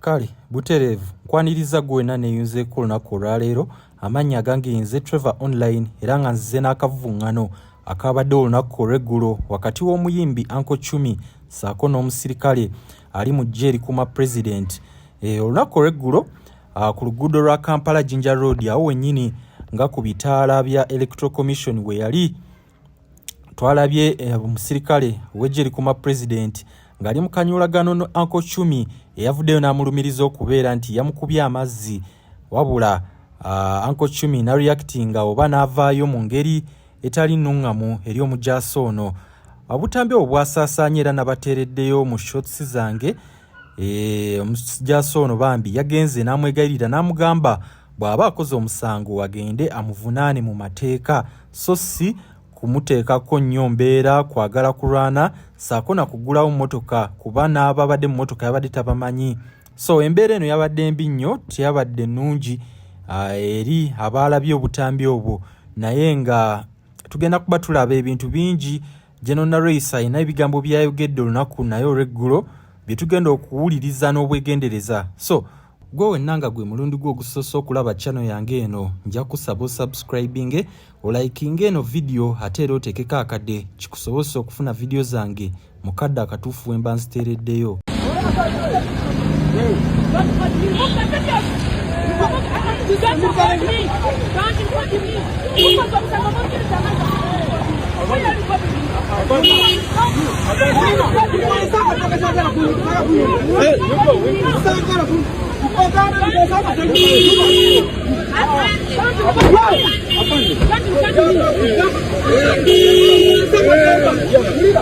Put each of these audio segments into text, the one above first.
kale butereevu nkwaniriza gwe wenna neeyunzeeko olunaku olwaleero amannya agange yenze trevor online era nga nzize n'akavvuŋŋano akaabadde olunaku olw'eggulo wakati w'omuyimbi anko cumi saako n'omusirikale ali mu ggye erikuuma pulezidenti eh, olunaku olw'eggulo ah, ku luguudo lwa kampala jinja road awo wennyini nga ku bitaala bya electoral commission we yali twalabye eh, omusirikale wejje likuma president ng'ali mu kanyolagano ne anko cumi eyavuddeyo n'amulumiriza okubeera nti yamukubye amazzi wabula ah, anko cumi nareactinga oba n'avaayo mu ngeri etali nnuŋŋamu eri omujaasi ono obutambi obwo bwasaasaanya era nabateereddeyo mu shots zange Eh, omusajasa ono bambi yagenze n'amwegayirira n'amugamba bw'aba akoze omusango agende amuvunaane mu mateeka so si kumuteekako nnyo mbeera kwagala kulwana saako na kugulawo mmotoka kuba n'ababadde mu mmotoka yabadde tabamanyi so embeera eno yabadde mbi nnyo teyabadde nnungi ah, eri abaalabye obutambi obwo naye nga tugenda kuba tulaba ebintu bingi General Nareisa alina ebigambo byayogedde olunaku naye olweggulo bye tugenda okuwuliriza n'obwegendereza so gwe wenna nga gwe mulundi gwo ogusoose okulaba channel yange eno nja kusaba osubscribinge olayikinga eno vidiyo ate era oteekeko akadde kikusobozesa okufuna vidiyo zange mu kadde akatuufu bwe mba nziteereddeyo Hey,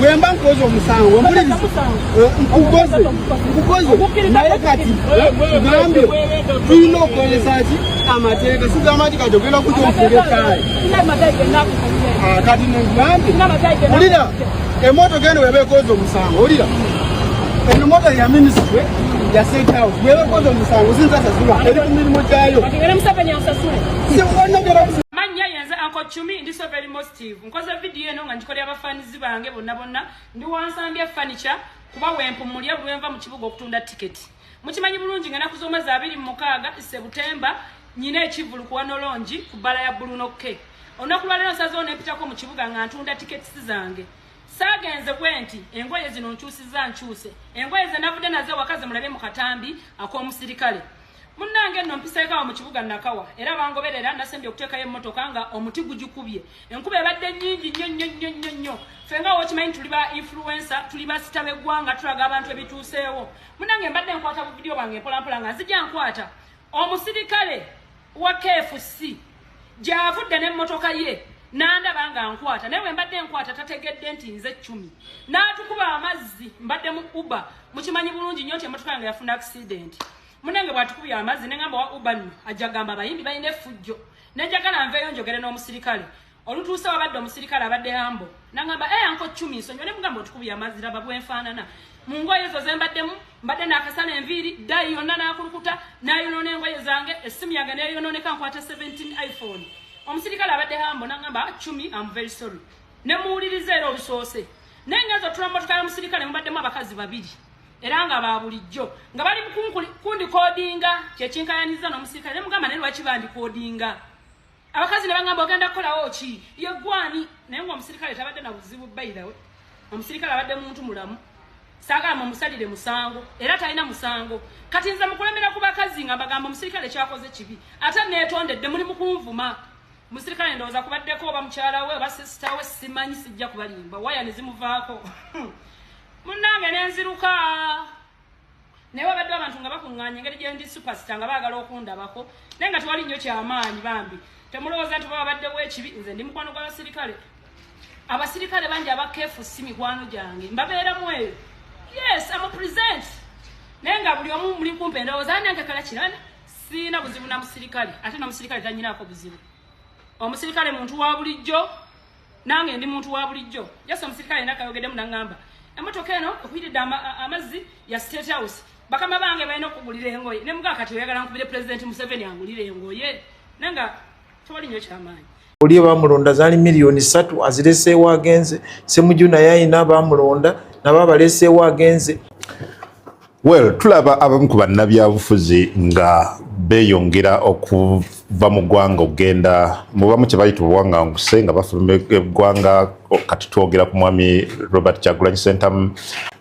bwemba nkoze omusango nkukoze nkukoze naye kati gambye tulina okukozesa ki amateeka sigamba nti kati ogenda kuja omufunga ekyaayi ah, kati negambye ulira emotoka eno weba ekoze omusango ulira eno moto ya minisitule ya state house weba ekoze omusango sinzasasula eri ku mirimu gyayo positive nkoze video eno nga ngikolera abafanizi bange bonna bonna ndi wansambya furniture kuba wempumulya buli wenva mu kibuga okutunda tiketi mukimanyi bulungi nga naku z'omwezi abiri mu mukaaga sebutemba nyina ekivulu kuwa nolongi ku bbala ya buluno ke olunaku lwaleero nsazewo nempitako mu kibuga nga ntunda tiketi zange saagenze bwe nti engoye zino nkyusiza nkyuse engoye ze navudde naze wakaze mulabye mu katambi ak'omusirikale munnange nno mpiseekaawo mu kibuga nakawa era bangoberera nasembye okuteekayo emmotoka nga omuti gugikubye enkuba ebadde nnyingi nnyo nnyo nnyo nnyo nnyo ffe nga wokimanyi tuli ba influensa tuli basita b'eggwanga tulaga abantu ebituuseewo munnange mbadde nkwata bu vidiyo bwange mpolampola nga nzija nkwata omusirikale wa kfc gy'avudde n'emmotoka ye nandaba nga nkwata naye wembadde nkwata tategedde nti nze cumi n'atukuba amazzi mbadde mu uba mukimanyi bulungi nnyo nti emmotoka yange yafuna akisidenti munange bwatukubye amazzi nengamba wa uba nno ajja gamba abayimbi balina efujjo nenjagala nveeyo njogere n'omusirikale olutuuse wabadde omusirikale abadde hambo nangamba e eh, anko cumi nsonyiwa ne mugamba otukubye amazzi laba bwenfaanana mu ngoye ezo zembaddemu mbadde nakasala enviiri ddayi yonna nakulukuta nayonoona engoye zange essimu yange neyonooneka nkwata 17 iphone omusirikale abadde hambo nangamba ah, cumi am very sorry nemuwuliriza era olusoose naye ngenza otula mumotoka yomusirikale mubaddemu abakazi babiri era nga ba bulijjo nga bali mukundi kodinga kyekinkayanyiza nomusirikale nemugamba naye lwaki bandi kodinga abakazi ne bagamba ogenda kukolawo ki yegwani naye nga omusirikale tabadde na buzibu bairawe omusirikale abadde muntu mulamu sagamba omusalire musango era talina musango kati nze mukulemera ku bakazi nga mbagamba omusirikale kyakoze kibi ate netondedde muli mukunvuma musirikale ndowooza kubaddeko oba mukyala we oba sisita we simanyi sijja kubalimba waya ne zimuvaako munnange ne nziruka naye wabadde abantu nga bakuŋŋaanya engeri gye ndi supasita nga baagala okundabako naye nga tewali nnyo kyamaanyi bambi temulowooza nti oba wabaddewo ekibi nze ndi mukwano gw'abasirikale abasirikale bangi abakeefu si mikwano gyange mbabeeramu eyo yes amu present naye nga buli omu muli kumpe ndowooza ani anjagala kirana siina buzibu na musirikale ate nomusirikale tanyinaako buzibu omusirikale muntu wa bulijjo nange ndi muntu wa bulijjo jasi omusirikale naka yogeddemu nangamba emotoka eno okuyiridde amazzi ya state house bakama bange balina okugulira engoye ne mugaa kati oyagala nkubire pulezidenti museveni angulire engoye nanga tewali nyo kyamaanyi oli bamulonda zali miliyoni satu azireseewo agenze semujuna yayina bamulonda nabo abaleseewo agenze Well, tulaba abamu ku bannabyabufuzi nga beyongera okuva mu ggwanga okugenda mubamu kyebayita obuwanganguse nga bafuluma eggwanga kati twogera ku mwami robert kyagulanyi sentamu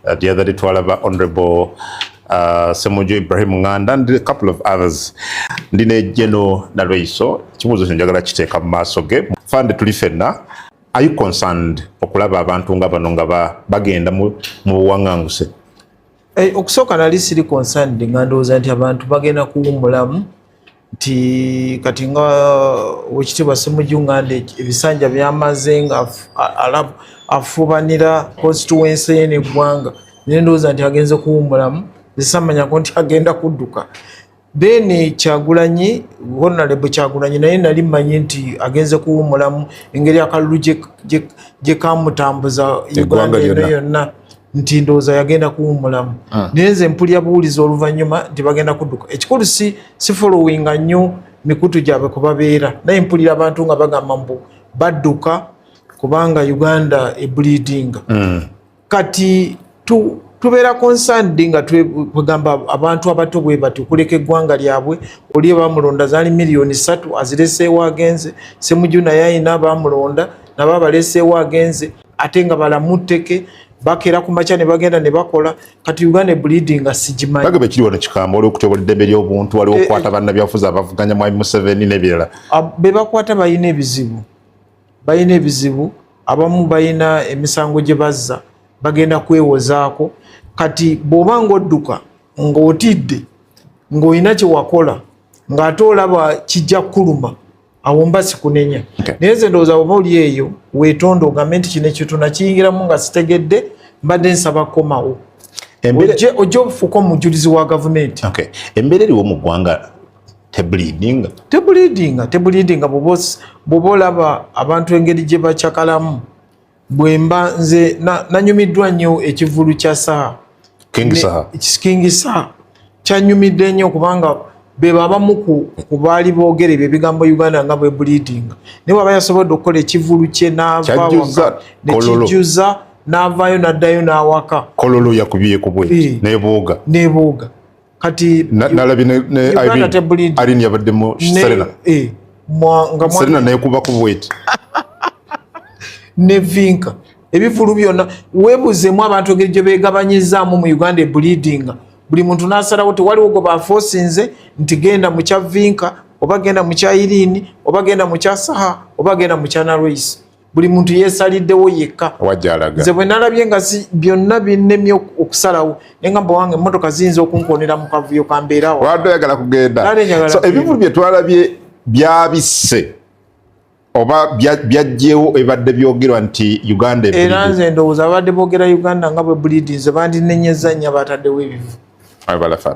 uh, the other day twalaba honorable uh, semujo ibrahim nganda and a couple of others ndi ne geno nalweiso ekibuuzo kyo njagala kiteeka mu maaso ge fande tuli fenna are you concerned okulaba abantu nga bano nga bagenda mu buwanganguse Eh, okusooka nali siri concerned nga ndowooza nti abantu bagenda kuwumulamu nti kati nga wekitiibwa simuju nga nde ebisanja byamaze nga afubanira constituency ye neggwanga naye ndowooza nti agenze kuwumulamu esamanyako nti agenda kudduka then eh, kyagulanyi honalebo kyagulanyi naye nali manyi nti agenze kuwumulamu engeri akalulu gyekamutambuza uganda eno yonna nti ndowooza yagenda kuwumulamu ah. naye nze mpulya buwulizi oluvanyuma nti bagenda kudduka ekikulu si si followinga nnyo mikutu gyabwe kubabeera naye mpulira abantu nga bagamba mbu badduka kubanga uganda ebulidinga mm. kati tu tubeera concerned nga twegamba abantu abato bwe bati okuleka eggwanga lyabwe oli bamulonda zaali miliyoni satu azireseewo agenze semuju naye ayina bamulonda nabo abaleseewo agenze ate nga balamu tteke bakera ku makya ne bagenda ne bakola kati uganda ebulidi nga sigimanyi bagamba ekiri wano kikambo waliwo okutyobola eddembe ly'obuntu waliwo eh, okukwata eh. bannabyafuzi abavuganya mwami museveni n'ebirala ah, be bakwata balina ebizibu balina ebizibu abamu balina emisango gye bazza bagenda kwewozaako kati bw'oba ng'odduka ng'otidde ng'olina kye wakola ng'ate olaba kijja kukuluma awo mba sikunenya naye nze ndowooza oba oli eyo weetonda ogambe nti kino ekyo tunakiyingiramu nga sitegedde mbadde nsaba kukomawo ojja ofuuka omujulizi wa gavumenti embeera eriwo mu ggwanga tebulidinga tebulidinga tebulidinga bwoba olaba abantu engeri gye bacakalamu bwemba nze nanyumiddwa nnyo ekivulu kya saha kingi saha kyanyumidde nnyo kubanga beba abamu ku baali boogera ebyo ebigambo uganda nga bwebulidinga naye waba yasobodde okukola ekivulu kye navawaka nekijjuza n'avaayo n'addayo n'awaka kololo yakubye kubwe eh. nebooga nebooga kati nalabye ne Irene yabaddemu Serena eh, Serena naye kuba ku bweti ne Vinka ebivulu byonna webuzeemu abantu engeri gye beegabanyizaamu mu Uganda ebulidinga buli muntu n'asalawo tewaliwo gwe bafoosinze nti genda mu kya Vinka oba genda mu kya Irene oba genda mu kya Saha oba genda mu kya Narwesi buli muntu yesaliddewo yekka nze bwe nalabye nga byonna binnemye okusalawo naye nga mba wange emmotoka ziyinza okunkonera mu kavuyo kambeerawoyagala kugenda ebivulu bye twalabye byabisse oba byajjewo ebadde byogerwa nti uganda era nze ndowooza abadde boogera uganda nga bwe bulidinze bandinenyeza nnya bataddewo ebivu abalafa